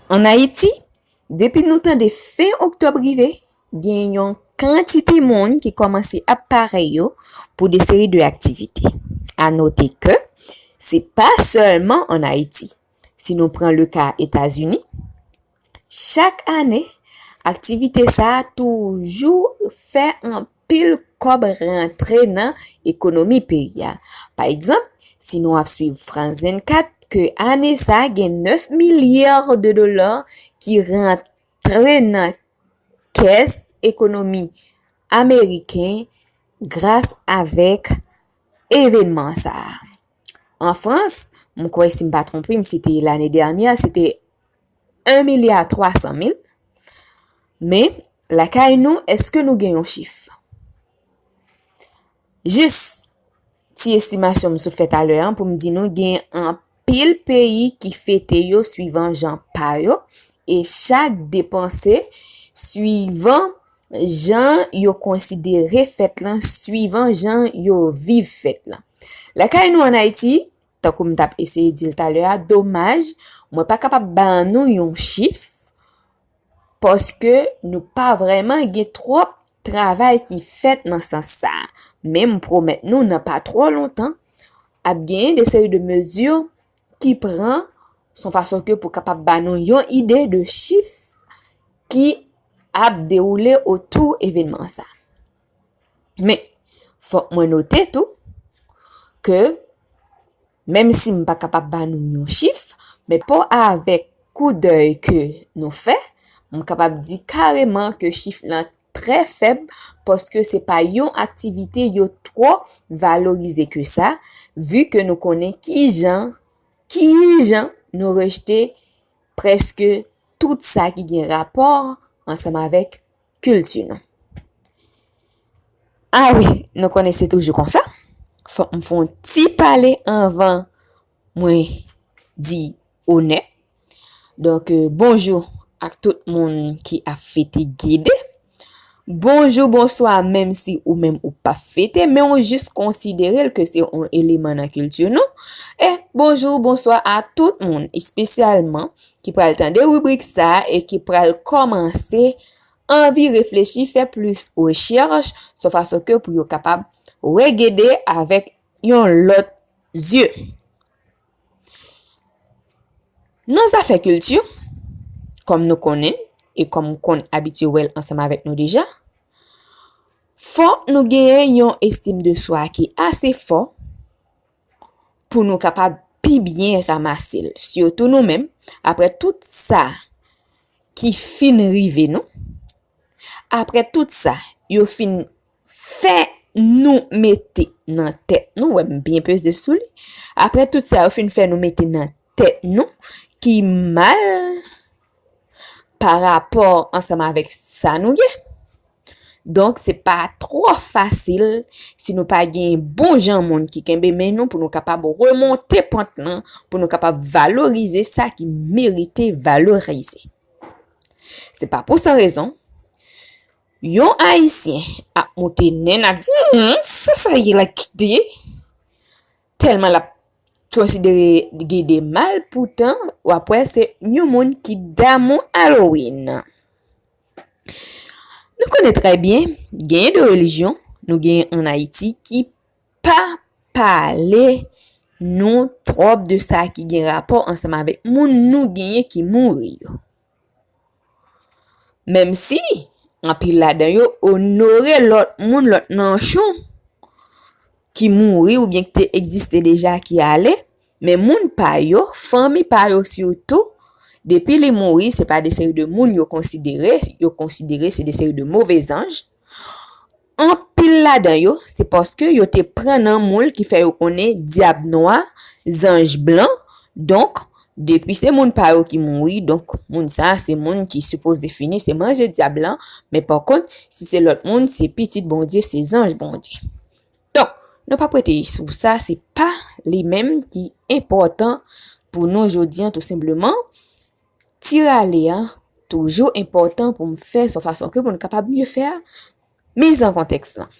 An Ayiti, depi nou tande fen oktòb rive, gen yon kantite moun ki kòmanse ap pare yo pou de seri de aktivite. A note ke, se pa sèlman an Ayiti, si nou pran le ka Etazini, chak ane, aktivite sa a toujou fè pil kòb rantre nan ekonomi peyi a. Pa egzanp, si nou ap swiv France 24, ke ane sa gen 9 milyar de dola ki rantre nan kès ekonomi ameriken gras avèk evenman sa. An Frans, m kwè si m pa twonpe m se te lane dènyè, se te 1 milya 300 mil. Men, lakay nou, eske nou gen yon chif? Jis, ti estimasyon m sot fè talè an pou m di nou gen anpil peyi ki fete yo swivan jan pa yo e chak depanse swivan Jan yo konsidere fèt lan swivan jan yo viv fèt lan. Lakay nou an Ayiti, tankou m t ap eseye di l talè a, domaj, mwen pa kapab ba nou yon chif, paske nou pa vrèman gen twòp travay ki fèt nan sans sa a. Men m pwomèt nou nan pa twò lontan, ap genyen de seri de mezi ki pran son fason ke pou kapab ba nou yon ide de chif ki ap dewoule otou evenman sa. Men, fòk mwen note tou ke menm si m pa kapab ba nou yon chif, men pa avèk kou dèy ke nou fè, m kapab di kareman ke chif lan trè fèb paske se pa yon aktivite yo twò valorize ke sa, vu ke nou konnen ki jan ki jan nou rejte prèske tout sa ki gen rapò ansanm avèk kilti nou. A wi, nou konnen se toujou konsa, fòk m fè yon ti pale anvan Mwen di onè. Donk bonjou ak tout moun ki ap fete Gede. Bonjou, bonswa menm si ou menm ou pa fete men ou jis konsidere l ke se yon eleman nan kilti nou. E bonjou, bonswa a tout moun espesyalman ki pral tande ribrik sa e ki pral kòmanse anvi reflechi, fè plis rechèch sou fason ke pou yo kapab wè Gede avèk yon lòt zye. Nan zafè kilti, kòm nou konnen, e kòm ou konn abitye wè l ansanm avèk nou deja, fò nou genyen yon estim de swa ki ase fò pou nou kapab pi byen ramase l. Sitou nou menm, apre tout sa ki fin rive nou, apre tout sa yo fin. fè nou mete nan tèt nou, wè m byen peze sou li, apre tout sa yo fin fè nou mete nan tèt nou ki mal pa rapò ansanm avèk sa nou gen. Donk se pa twò fasil si nou pa gen yon bon jan moun ki kenbe men nou pou nou kapab remonte pant lan, pou nou kapab valorize sa ki merite valorize. Se pa pou san rezon, Yon ayisyen ap moute nen nap di humm sa sa ye la kite telman lap konsidere Gede mal poutan wap wè se yon moun ki damou Halloween. Nou konnen trè byen genyen de relijyon nou genyen an Ayiti ki pa pale nou twòp de sa ki gen rapò ansanm avèk moun nou genyen ki mouri yo. Menmsi anpil ladan yo onore lòt moun, lòt nanchon ki mouri oubyen ki te egziste deja ki ale, men moun pa yo, fanmi pa yo sitou, depi li mouri se pa de seri de moun yo konsidere, yo konsidere se de seri de move zanj, Anpil ladan yo, se paske yo te pran nan moul ki fè yo konnen dyab nwa, zanj blan, donk, depi se moun pa yo ki mouri, donk, moun sa a se moun ki sipoze fini, se manje dyab lan, men pakont, si se lòt moun, se pitit Bondye, se zanj Bondye. Donk, nou pap rete sou sa, se pa li menm ki enpòtan pou nou jodi an tou senpleman. Ti rale a toujou enpòtan pou m fè son fason ke pou n kapab mye fè a miz an kontèks lan.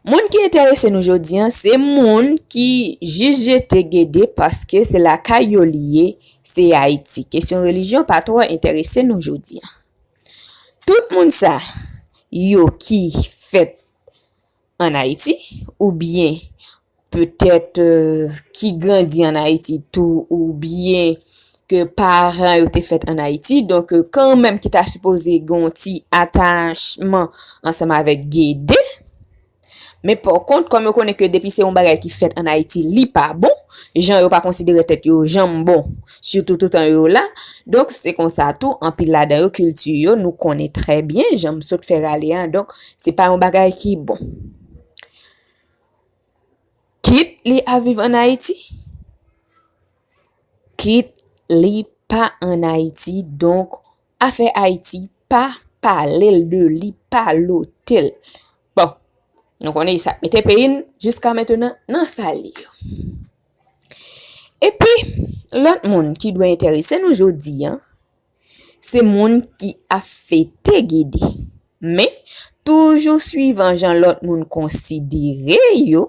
Moun ki enterese nou jodi an se moun ki jis jete Gede paske se lakay yo li ye, se Ayiti. Kesyon relijyon pa twò enterese nou jodi an. Tout moun sa yo ki fèt. an Ayiti oubyen petèt ki grandi an Ayiti tou oubyen ke paran yo te fèt an Ayiti, donk kanmenm ki ta sipoze gen yon ti atachman ansanm avèk Gede. Men pa kont, kòm yo konnen ke depi se yon bagay ki fèt an Ayiti, li pa bon, jan yo pa konsidere tèt yo janm bon, Sitou toutan yo la. Donk, se konsa tou, anpil ladan yo, kilti yo, nou konnen trè byen, jan m sot fè rale a. Donk, se pa yon bagay ki bon. Kit li ap viv ann Ayiti, kit li pa ann Ayiti. Donk, afè Ayiti, pa pale l de li, pa lote l. Bon, nou konnen sa k mete peyi n, jiska mentenan, nan sa l ye yo. Epi, lòt moun ki dwe enterese nou jodi a, se moun ki ap fete Gede. Men, toujou suivan jan lòt moun konsidere yo,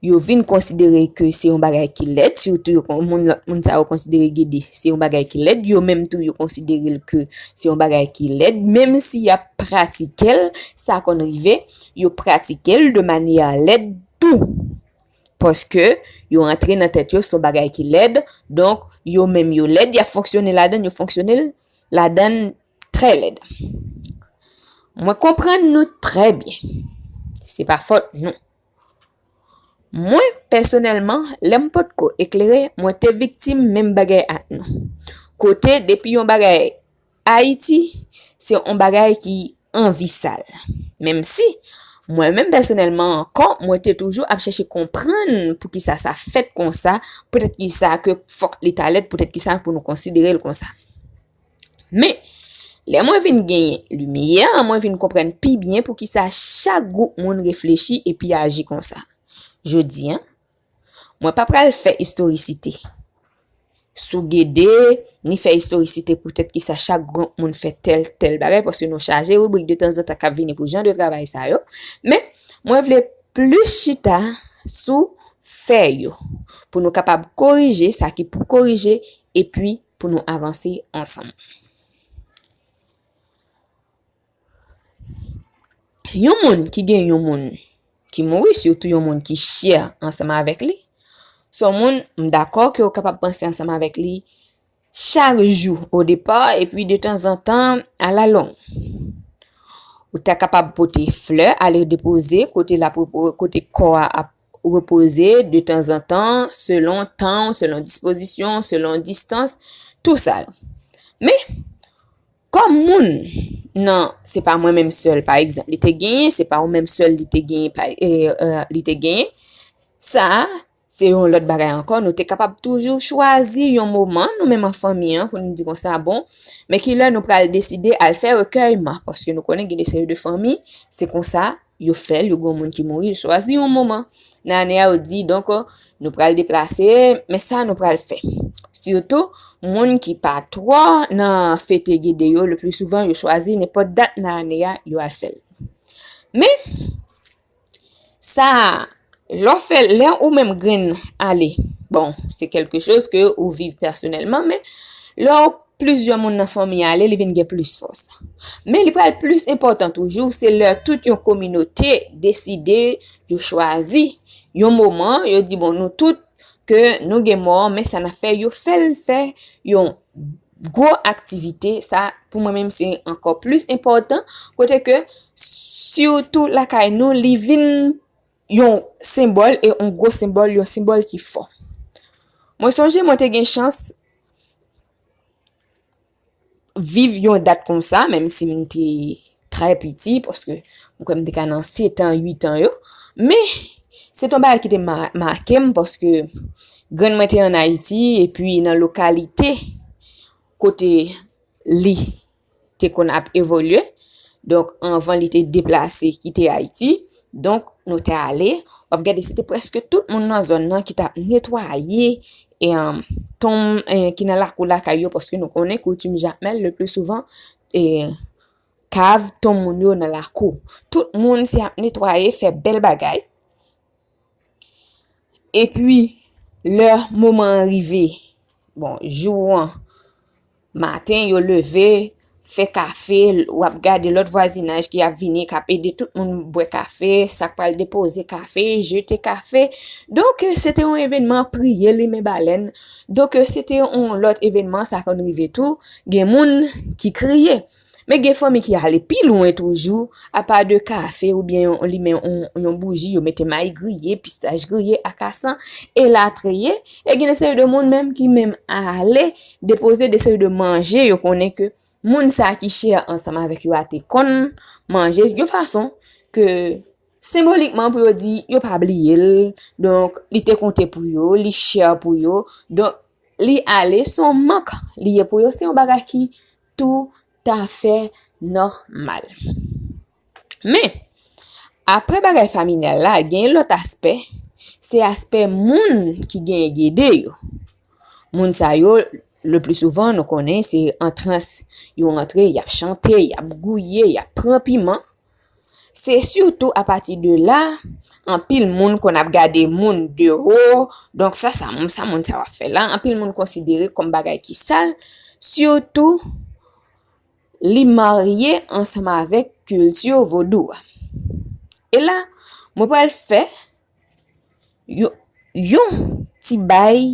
yo vin konsidere ke se yon bagay ki lèd, sitou yo kon moun lòt moun sa yo konsidere Gede se yon bagay ki lèd, yo menm tou yo konsidere l ke se yon bagay ki lèd, menm si y ap pratike l, sa konn rive, yo pratike l de manyè lèd tou. Paske, yo rantre nan tèt yo se yon bagay ki lèd, donk, yo menm yo lèd, y ap fonksyone ladan l, yo fonksyone ladan l trè lèd. Mwen konprann nou trè byen. Se pa fòt nou. Mwen, pèsonèlman, lè m pot ko eklere, mwen te viktim menm bagay ak nou. Kote, depi yon bagay Ayiti, se yon bagay ki anvi sal. Menm si, mwen menm pèsonèlman ankò, mwen te toujou ap chèche konprann pou ki sa sa fèt kon sa, poutèt ki sa ke fòk li ta lèd, poutèt ki sa pou nou konsidere l kon sa. Men, lè mwen vin genyen limyè, mwen vin konprann pi byen pou ki sa chak gwoup moun reflechi epi aji kon sa. Jodi a. Mwen pa pral fè istorisite sou Gede, ni fè istorisite poutèt ki sa chak gwoup moun fè tèl, tèl bagay, paske nou chaje ribrik de tanzantan k ap vini pou jan de travay sa yo. Men, mwen vle plis chita sou fè yo, pou nou kapab korije sa ki pou korije, epi pou nou avanse ansanm. Yon moun ki gen yon moun ki mouri, sitou yon moun ki chè ansanm avèk li, son moun m dakò ke ou kapab panse ansanm avèk li chak jou o depa epi de tanzantan a la long. Ou ta kapab pote flè ale depoze kote la kote kò a ap repoze de tanzantan selon tan, selon dispozisyon, selon distans, tou sa. Men, Kòm moun nan se pa mwen menm sèl pa egzanp li te genyen, se pa ou menm sèl li te genyen pa li te genyen, sa a se yon lòt bagay ankò nou te kapab toujou chwazi yon moman nou menm an fanmi an pou nou di konsa bon men ki lè nou pral deside al fè rekèyman paske nou konnen gen de seri de fanmi se konsa yo fè l yo gen yon moun ki mouri yo chwazi yon moman nan ane a yo di donk nou pral deplase men sa nou pral fè sitou moun ki pa twò nan fete gede yo le pli souvan yo chwazi nenpòt dat nan ane a yo al fè l men sa Lè w fè, lè ou menm grenn ale, bon, se kelke choz ke ou viv pèsonèlman, men, lè w plizyè moun nan fanmi ale, li vin gen plis fòs. Men, li pral plis enpòtan toujou, se lè tout yon kominote deside, yo chwazi, yon moman, yo di, bon, nou tout, ke nou gen mò, men sa n ap fè, yo fè l fè yon gwo aktivite, sa, pou mwen menm, se ankò plis enpòtan, kote ke, sitou lakay nou, li vin. yon senbòl e yon gwo senbòl, yon senbòl ki fò. Mwen sonje mwen te gen chans viv yon dat kon sa, menm si mwen te trè piti, paske mwen kwen mwen te ka nan 7 an, 8 an yo, men, se ton bagay ki te make mwen, paske grann mwen te an Ayiti, epi nan lokalite kote li te konn ap evolye. Donk, anvan li te deplase kite Ayiti, donk nou te ale, w ap gade se te preske tout moun nan zòn nan ki t ap netwaye tonm ki nan lakou lakay yo paske nou konnen koutim Jakmèl le pli souvan kav tonm moun yo nan lakou. Tout moun se ap netwaye, fè bèl bagay. E pwi, lè moman an rive, bon, jou an, maten yo leve, fè kafe, wap gade lòt vwazinaj ki ap vini, kap ede tout moun bwè kafe, sak pal depoze kafe, jete kafe. Donk, se te yon evenman priye limen balèn. Donk, se te yon lòt evenman, sa konn rive tou, gen moun ki kriye. Donk. Men gen fanmi ki ale pi lwen toujou, apa de kafe ou byen yon limen yon bouji, yo mete mayi griye, pistach griye, akasan, elatriye, e gen de seri de moun menm ki menm ale depoze de seri de manje yo konnen ke moun sa ki chè ansanm avèk yo a te konn manje, yon fason ke senbolikman pou yo di yo pa bliye l, donk li te konte pou yo, li chè pou yo, donk li ale son mank li ye pou yo, se yon bagay ki. tou ta fè nòmal. Men, apre bagay familyal la, gen yon lòt aspè, se aspè moun ki genyen gede yo. Moun sa yo, le pli souvan nou konnen, se antrans yo antre, y ap chante, y ap gouye, y ap pran piman. Se sitou apati de la, anpil moun konn ap gade moun de wo, donk sa sa moun sa moun sa wap fè la, anpil moun konsidere kòm bagay ki sal, sitou li marye ansanm avèk kilti vodou a. E la, mwen pral fè yon ti bay,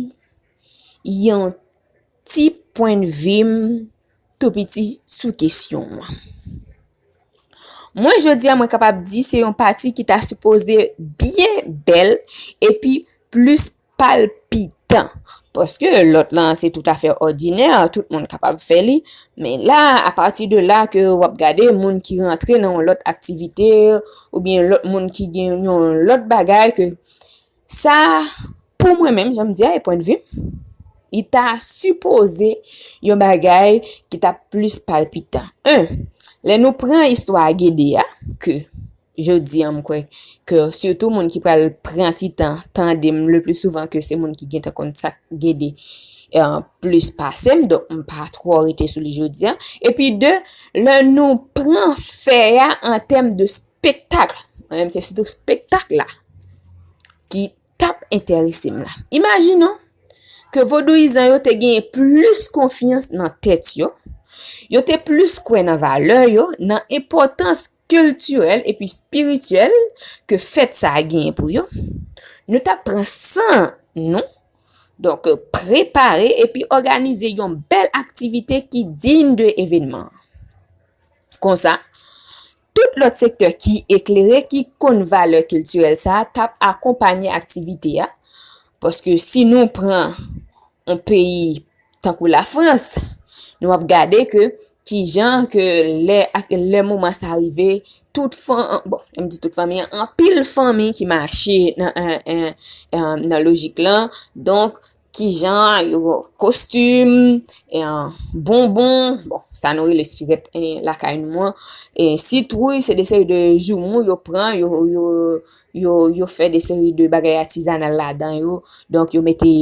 yon ti pwennvi m. Tou piti sou kesyon an. Mwen jodi a mwen kapab di se yon pati ki ta sipoze byen bèl epi plis palpitan. Paske lòt lan se tout afè òdinè, tout moun kapab fè li. Men la, a pati de la ke wap gade moun ki rantre nan yon lòt aktivite, oubyen lòt moun ki gen yon lòt bagay ke. Sa a, pou mwen menm, jan m di a, e pwennvi m, li ta sipoze yon bagay ki ta plis palpitan. 1, Lè nou pran istwa Gede a, ke jodi an m kwè ke sitou moun ki pral pran ti tan tande m le pli souvan ke se moun ki gentan konn sa k Gede plis pase m, donk m pa twò rete sou li jodi an. Epi 2, lè nou pran fè a an tèm de spektakl, mwen menm se sitou spektakl la ki tap enterese m la. Imajinon ke vodouyizan yo te genyen plis konfyans nan tèt yo, yo te plis kwè nan valè yo, nan enpòtans kiltirèl epi espirityèl ke fèt sa a genyen pou yo, nou tap pran san nou, donk prepare epi òganize yon bèl aktivite ki diyn de evenman an. Konsa, Tout lòt sektè ki eklere ki konn valè kiltirèl sa a t ap akonpanye aktivite a. Paske si nou pran yon peyi tankou Lafrans, nou ap gade ke ki jan ke lè moman sa rive, tout fanmi, bon, m di tout fanmi, anpil fanmi ki mache nan lojik lan, donk Ki jan yo kostim, bonbon, bon, sa nou rele sivèt lakay nou an, sitwouy, se de seri de joumou yo pran, yo fè de seri de bagay atizanal la dan yo, donk yo mete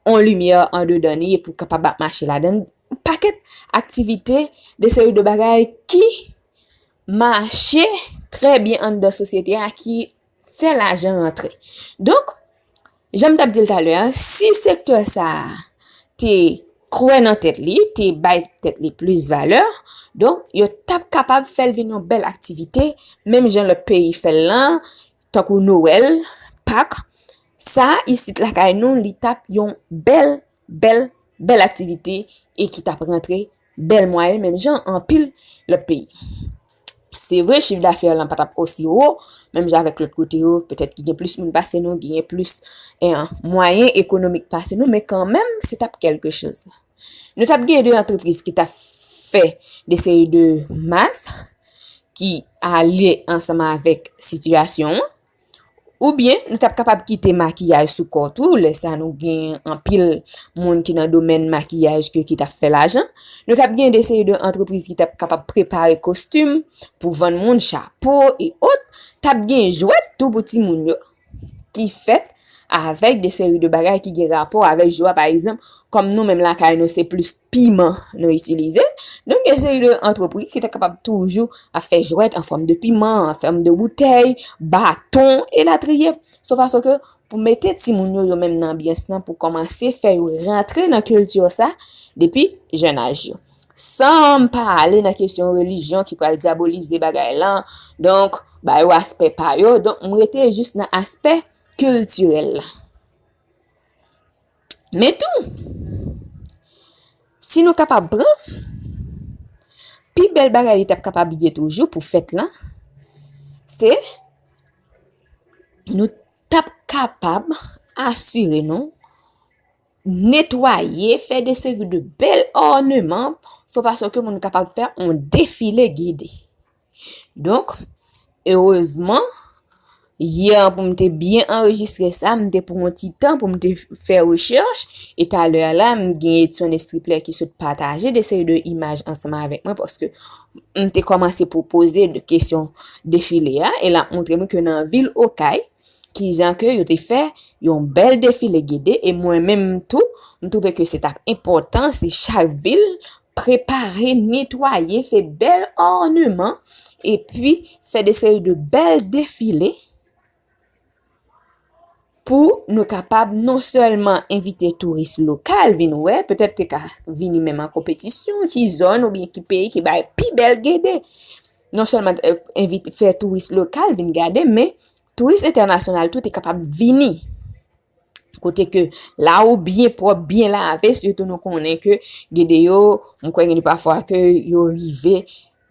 on limyè an de dan li, epou kapab ap mache la dan, pakèt aktivite, de seri de bagay ki mache trè byen an dan sosyete a, ki fè lajan rantre. Donk, jan m t ap di l talè a, si sektè sa a te kwè nan tèt li, te bay tèt li plis valè, donk, yo t ap kapab fè l vin yon bèl aktivite, menm jan lòt peyi fè l lan, tankou Nowèl, Pak, sa isit lakay nou li t ap yon bèl Bèl bèl aktivite e ki t ap rantre bèl mwayen menm jan anpil lòt peyi. Se vre chif dafè lan pa t ap osi wo menm jan avèk lòt kote yo, petèt ki gen plis moun pase nou, ki gen plis mwayen ekonomik pase nou, men kanmenm se t ap kèlke choz. Nou t ap gen de antrepriz ki t ap fè de seri de mas ki ale ansanm avèk sitiyasyon an. Oubyen nou tap kapab kite makiyaj sou kò tou, lè sa nou gen anpil moun ki nan domèn makiyaj ke ki tap fè lajan. Nou tap gen de seri de antrepriz ki tap kapab prepare kostim pou vann moun chapo e ot. Tap gen jwèt tou pou ti moun yo ki fèt avèk de seri de bagay ki gen rapò avèk jwa pa egzanp kòm nou menm lakay nou se plis piman nou itilize, nou gen yon seri de antrepriz ki ta kapab toujou ap fè jwèt an fòm de piman, an fòm de boutèy, baton, elatriye. Sof a soke pou mete timoun yo yo menm nan anbyans nan pou kòmanse fè yo rantre nan kilti sa depi jèn aj yo. San m pa ale nan kesyon relijyon ki pral dyabolize bagay lan, donk ba yo aspè pa yo, donk m rete jis nan aspè kiltirèl la. Men tou, si nou kapab pran, pi bèl bagay li t ap kapab ye toujou pou fèt lan, se nou t ap kapab asire nou netwaye, fè de seri de bèl òneman, sou fason ke moun kapab fè yon defile gide. Donk, erezman, yè an pou m te byen anrejistre sa, m te pou yon ti tan pou m te fè rechèch, e talè a la, m gen Edson Estriplè ki sot pataje de seri de imaj ansanm avèk mwen, paske m te kòmanse pwopoze de kesyon defile a, e l ap montre m ke nan vil Okay, ki jan ke yo te fè yon bèl defile gede, e mwen menm tou, m twouve ke se t ap enpòtan si chak vil, Prepare, netwaye, fè bèl òneman, epi fè de seri de bèl defile pou nou kapab non sèlman envite touris lokal vin wè, petèt te ka vini menm an konpetisyon ki zòn ou byen ki peyi ki bay pi bèl gede. Non sèlman envite fè touris lokal vin gade, men touris entènasyonal tou te kapab vini Kote ke la ou byen pwòp, byen lave, sitou nou konnen ke gede yo, mwen kwè gen de pafwa ke yo rive,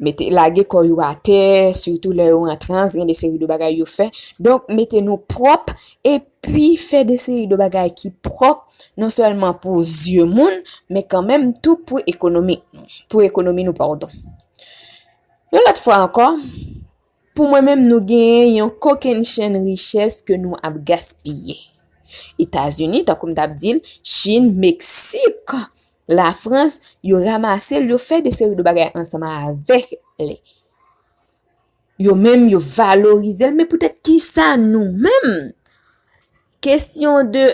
mete lage kò yo atè, sitou lè yo an trans, gen de seri de bagay yo fè. Donk, mete nou pwòp, epi fè de seri de bagay ki pwòp, non sèlman pou zye moun, men kanmenm tou pou ekonomi nou, pou ekonomi nou, pardon. Yon lòt fwa ankò, Pou mwen menm nou genyen yon kokennchenn richès ke nou ap gaspiye. Etazini, tankou m t ap di l, Chin, Meksik, Lafrans, yo ramase l, yo fè de seri de bagay ansanm avèk li. Yo menm yo valorize l, men poutèt kisa nou menm, Kesyon de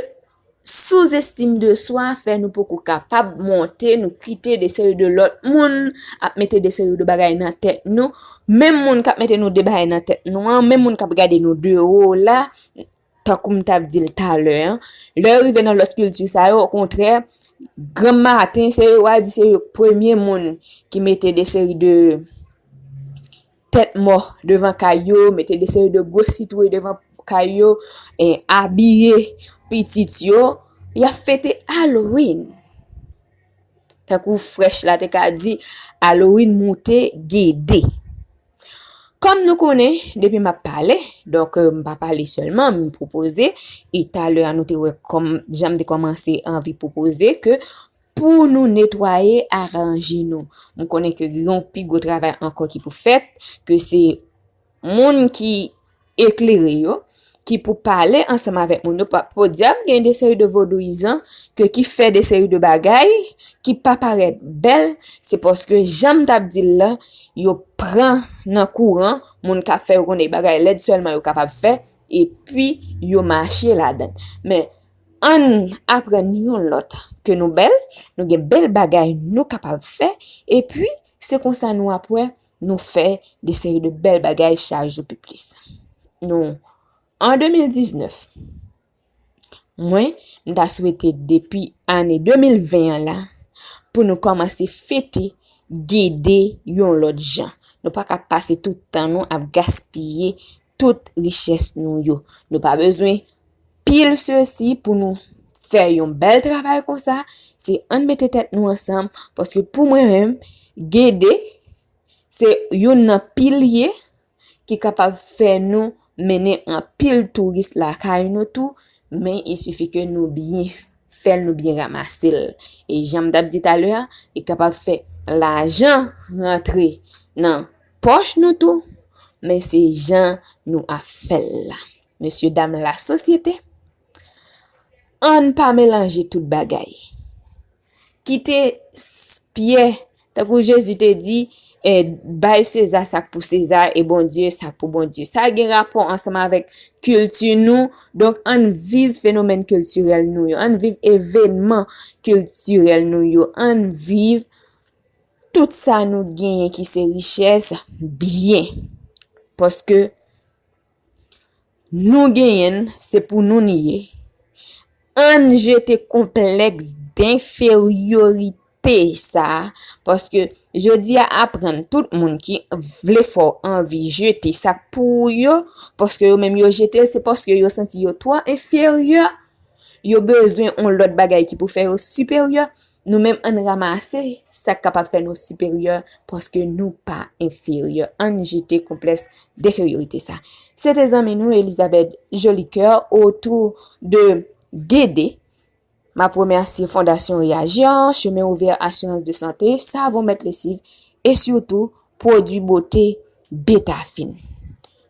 souzestim de swa fè nou poko kapab monte nou kite de seri de lòt moun ap mete de seri de bagay nan tèt nou, menm moun kap mete nou de bagay nan tèt nou an, menm moun kap gade nou de wo la, tankou m tap di l talè an, lè yo rive nan lòt kilti sa yo okontrè granm maten se yo wa di se yo premye moun ki mete de seri de tèt mò devan kay yo, mete de seri de gwo sitwouy devan kay yo, e abiye pitit yo, y ap fete Halloween. Tankou frèch la te ka di, Halloween moute gede. Kòm nou konnen, depi m ap pale, donk m pa pale sèlman, m pwopoze, e talè a nou te wè kòm jan m te kòmanse anvi pwopoze ke Pou nou netwaye, aranje nou. M konnen ke gen yon pi gwo travay ankò ki pou fèt, ke se moun ki eklere yo, ki pou pale ansanm avèk moun yo, podyab gen de seri de vodouyizan ke ki fè de seri de bagay ki pa parèt bèl, se paske jan m t ap di l la, yo pran nan kouran moun k ap fè yo konnen bagay lèd sèlman yo kapab fè, epi yo mache ladan l. Men, Ann aprann youn lòt ke nou bèl, nou gen bèl bagay nou kapab fè, epi se konsa nou ap wè nou fè de seri de bèl bagay chak jou pi plis. Nou, an 2019, mwen, m ta swete depi ane 2020 an la, pou nou kòmanse fete Gede yon lòt jan. Nou pa ka pase tout tan nou ap gaspiye tout richès nou yo. Nou pa bezwen pil sesi pou nou fè yon bèl travay konsa se ann mete tèt nou ansanm paske pou mwen menm gede se yon nan pilye ki kapab fè nou mennen an pil touris lakay nou tou men il sifi ke nou byen fèl nou byen ramase l e janm tap di talè a li kapab fè lajan rantre nan pòch nou tou men se jan nou ap fèl la. Mesye dam la sosyete, ann pa melanje tout bagay. Kite Pyè, tankou Jezi te di, e bay Seza sa k pou Seza e Bondye sa k pou Bondye. Sa gen rapò ansanm avèk kilti nou, donk ann viv fenomèn kiltirèl nou yo, ann viv evenman kiltirèl nou yo, ann viv tout sa nou genyen ki se richès byen. Paske. Nou genyenn se pou nou n ye. Ann jete konplèks denferyorite sa a paske jodi a aprann tout moun ki vle fè w anvi jete sa k pou ou yo paske yo menm yo jete l se paske yo santi yo twò enferyè yo bezwen yon lòt bagay ki pou fè yo siperyè. Nou menm ann ramase sak kapab fè nou siperyè paske nou pa enferyè ann jete konplès deferyorite sa. Se te zanmi nou Elizabeth Jolicoeur otou de DD. M ap remèsye Fondasyon Reyaji an, Chemen Ouvè Asirans de Sante, Savon Mèt Lesiv e sitou Pwodui Bote Betafin.